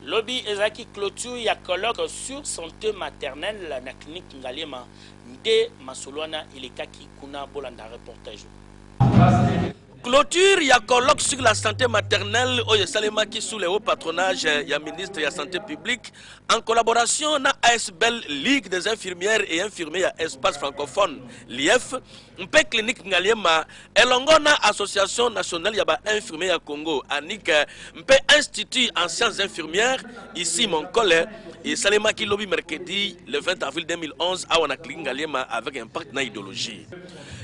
Lobi ezalaki cloture ya colloque sur sante maternelle na clinique Ngaliema nde masolo wana elekaki kuna, bolanda reportage oyo. Cloture ya colloque sur la sante maternelle oyo esalemaki sous le haut patronage ya ministre ya sante publique en collaboration na asbl, Ligue des infirmières et infirmiers ya espace francophone, LIEF, mpe clinique Ngaliema elongo na Association nationale ya ba infirmiers ya Congo ANIC mpe Institut en sciences infirmières ici Monkole esalemaki lobi mercredi le 20 avril 2011 awa na clinique Ngaliema avec impact na ideologie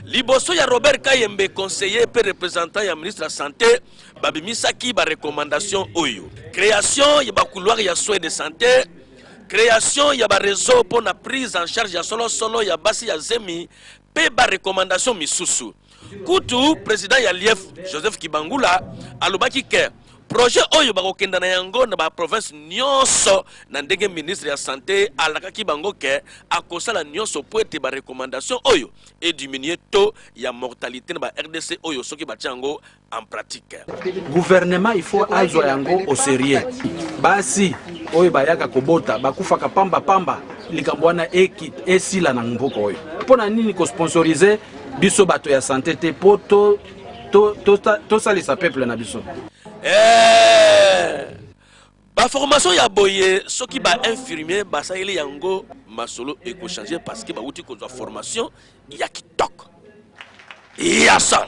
liboso ya Robert Kayembe conseiller mpe représentant ya ministre ya santé babimisaki ba recommandation oyo création ya ba couloir ya soins de santé création ya ba réseau mpo na prise en charge ya solosolo ya basi ya zemi mpe ba recommandations misusu. Kutu president ya Lief Joseph Kibangula alobaki ke projet oyo bakokenda na yango na ba province nyonso, na ndenge ministre ya sante alakaki bango ke akosala nyonso mpo ete ba recommandations oyo e diminuer taux ya mortalite na ba rdc oyo soki batie yango en pratique. Gouvernement il faut azwa yango au serieux. Basi oyo bayaka kobota bakufaka pamba pamba, likambo wana esila na mboka oyo. Mpo na nini kosponsorize biso bato ya sante te mpo tosalisa peuple na biso? Eh! baformation ya boye soki bainfirmier basaleli yango masolo ekochange parce que bauti kozwa formation ya kitoko yasa